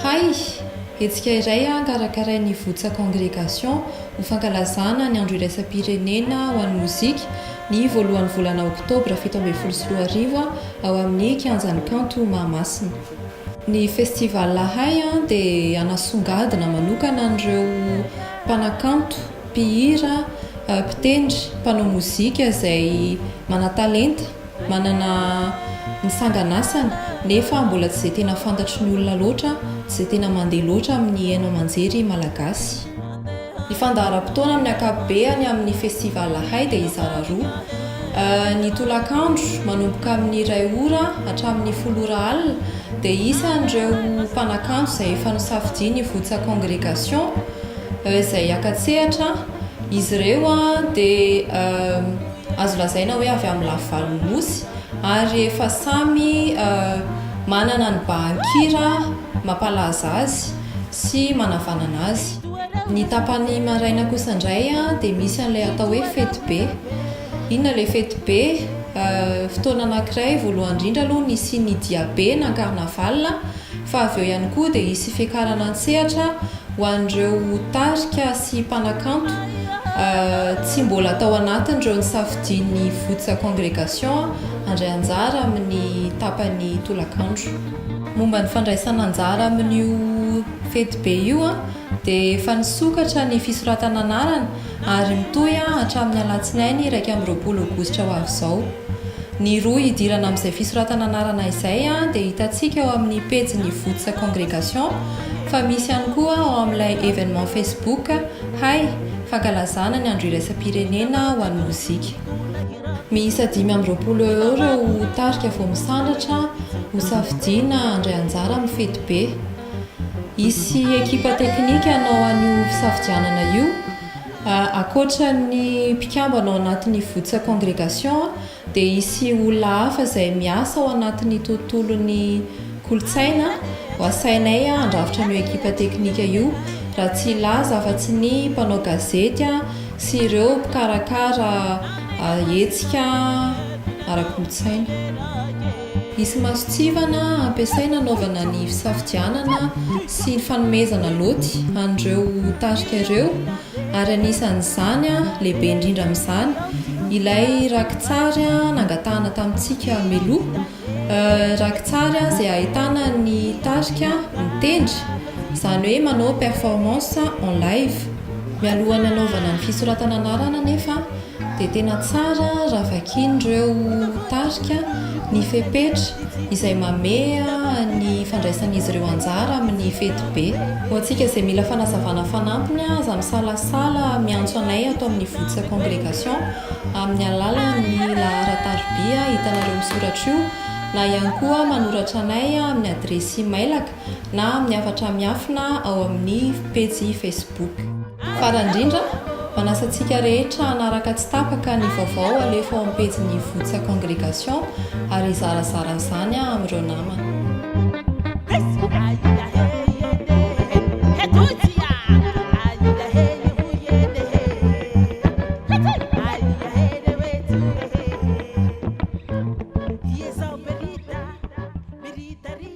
Hay! Hetsika iray an karakarain'ny Ivotsà Congregation ho fankalazana ny Andro Iraisam-pirenena ho an'ny Mozika ny voalohan'ny volana Oktobra fito ambin'ny folo sy roa arivo ao amin'ny Kianjan'ny Kanto Mahamasina. Ny Festival Hay an dia hanasongadina manokana an'ireo mpanakanto, mpihira, mpitendry, mpanao mozika izay manan-talenta, Manana ny sanganasany, nefa mbola tsy izay tena fantatry ny olona loatra, tsy izay tena mandeha loatra amin'ny haino aman-jery malagasy. Ny fandaharam-potoana amin'ny ankapobeany amin'ny Festival Ahay dia hizara roa. Ny tolakandro, manomboka amin'ny iray ora hatramin'ny folo ora alina, dia isan'ireo mpanakanto izay efa nosafidian'ny Voutsa Congregation izay haka-tsehatra. Izy ireo dia. azo lazaina hoe avy amin'ny lafivalon'ny Nosy ary efa samy manana ny bahan-kira mampalaza azy sy manavanana azy. Ny tapany maraina kosa indray dia misy an'ilay atao hoe fetibe. Inona ilay fetibe? Fotoana anankiray voalohany indrindra aloha nisian'ny diabe na carnaval. fa avy eo ihany koa dia hisy fiakarana an-tsehatra ho an'ireo tarika sy mpanakanto tsy mbola tao anatin'ireo nisafidian'ny Voutsa Congregation handray anjara amin'ny tapany tolakandro. Momba ny fandraisana anjara amin'io fetibe io dia efa nisokatra ny fisoratana anarana ary mitohy hatramin'ny alatsinainy iraika amby roapolo aogositra ho avy izao. Ny rohy hidirana amin'izay fisoratana anarana izay dia hitantsika ao amin'ny pejin'ny Votsa Congregation fa misy ihany koa ao amin'ilay Evenement Facebook Hay fankalazana ny Andro Iraisam-pirenena ho an'ny Mozika. Miisa dimy amby roapolo eo ireo tarika vao misandratra hosafidiana handray anjara amin'ny fetibe. Hisy ekipa teknika hanao an'io fisafidianana io. Ankoatra ny mpikambana ao anatin'ny Votsa Congregation dia hisy olona hafa izay miasa ao anatin'ny tontolon'ny kolontsaina ho asainay handrafitra an'io ekipa teknika io raha tsy hilaza afa-tsy ny mpanao gazety sy ireo mpikarakara hetsika ara-kolontsaina. Hisy masontsivana hampiasaina hanaovana ny fisafidianana sy ny fanomezana lôty an'ireo tarika ireo ary anisan'izany, lehibe indrindra amin'izany, ilay rakitsary nangatahana tamintsika mialoha, rakitsary izay ahitana ny tarika mitendry, izany hoe manao performance en live. Mialohan'ny hanaovana ny fisoratana anarana anefa dia tena tsara raha vakian'ireo tarika ny fepetra izay mameha ny fandraisan'izy ireo anjara amin'ny fetibe. Ho antsika izay mila fanazavana fanampiny aza misalasala miantso anay ato amin'ny Votsa Congregation amin'ny alalan'ny laharan-tarobia hitanareo misoratra io na ihany koa manoratra anay amin'ny adiresy imailaka na amin'ny hafatra miafina ao amin'ny pejy Facebook. Farany indrindra, manasa antsika rehetra hanaraka tsy tapaka ny vaovao alefa ao amin'ny pejin'ny Votsa Congregation ary hizarazara an'izany amin'ireo namana.